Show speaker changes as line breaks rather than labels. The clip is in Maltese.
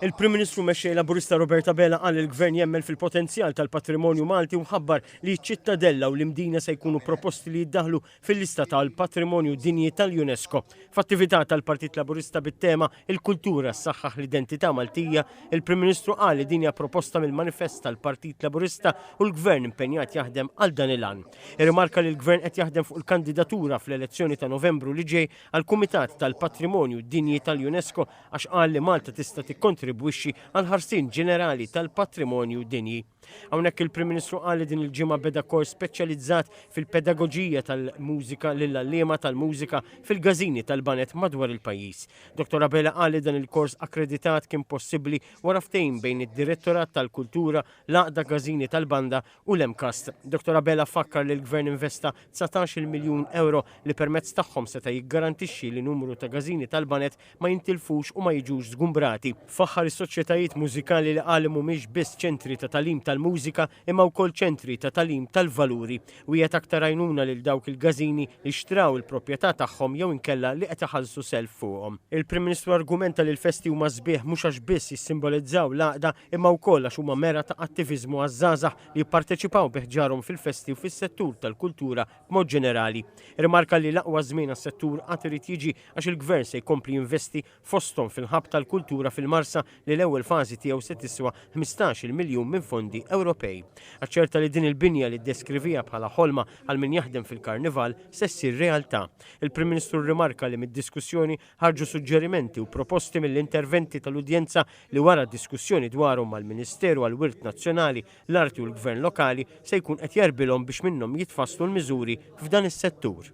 Il-Prim Ministru Mexxej Laburista Robert Abela qal li l-Gvern jemmen fil-potenzjal tal-patrimonju Malti u ħabbar li ċ-Ċittadella u l-Imdina se jkunu proposti li jiddaħħlu fil-lista tal-Patrimonju Dinji tal-UNESCO f'attività tal-Partit Laburista bit-tema Il-Kultura ssaħħaħ l-Identità Maltija. Il-Prim Ministru qal li din hija proposta mill-Manifest tal-Partit Laburista u l-Gvern impenjat jaħdem għal dan il-għan. Irrimarka li l-Gvern qed jaħdem fuq il-kandidatura fl-elezzjoni ta' Novembru li ġej għall-Kumitat tal-Patrimonju Dinji tal-UNESCO għax qal li Malta tista' tikkontribwixxi għall-ħarsien ġenerali tal-patrimonju dinji. Hawnhekk il-Prim Ministru qal li din il-ġimgħa beda kors speċjalizzat fil-pedagoġija tal-mużika lill-għalliema tal-mużika fil-każini tal-baned madwar il-pajjiż. Dottor Abela qal li dan il-kors akkreditat kien possibbli wara ftehim bejn id-Direttorat tal-Kultura, l-Għaqda Każini tal-Banda u l-MCAST. Dottor Abela fakkar li l-Gvern investa dsatax-il miljun ewro li permezz tagħhom seta' jiggarantixxi li numru ta' gażini tal-baned ma jintilfux u ma jiġux żgumbrati. Faħħar is-soċjetajiet mużikali li qal li mhumiex biss ċentri ta' tagħlim tal-mużika imma wkoll ċentri ta' tagħlim tal-valuri. Wiegħed aktar għajnuna lil dawk il-gażini li xtraw il-propjetà tagħhom jew inkella li qed iħallsu self fuqhom. Il-Prim Ministru argumenta li l-festi huma sbieħ mhux għax biss jissimbolizzaw l-għaqda imma wkoll għax huma mera ta' attiviżmu għaż-żgħażagħ li jipparteċipaw bi ħġarhom fil-festi u fis-settur tal-kultura b'mod ġenerali. Irrimarka li l-aqwa żmien għas-settur għad irid jiġi għax il-Gvern se jkompli jinvesti fosthom fil-Hub tal-Kultura fil-Marsa li l-ewwel fażi tiegħu se tiswa ħmistax-il miljun minn fondi Ewropej. Aċċerta li din il-binja li ddeskriviha bħala ħolma għal min jaħdem fil-Karnival se ssir realtà. Il-Prim Ministru rrimarka li mid-diskussjoni Ħarġu suġġerimenti u proposti mill-interventi tal-udjenza li wara diskussjoni dwarhom mal-Ministeru għall-Wirt Nazzjonali, l-Arti u l-Gvern Lokali se jkun qed jgħarbilhom biex minnhom jitfasslu l-miżuri f'dan is-settur.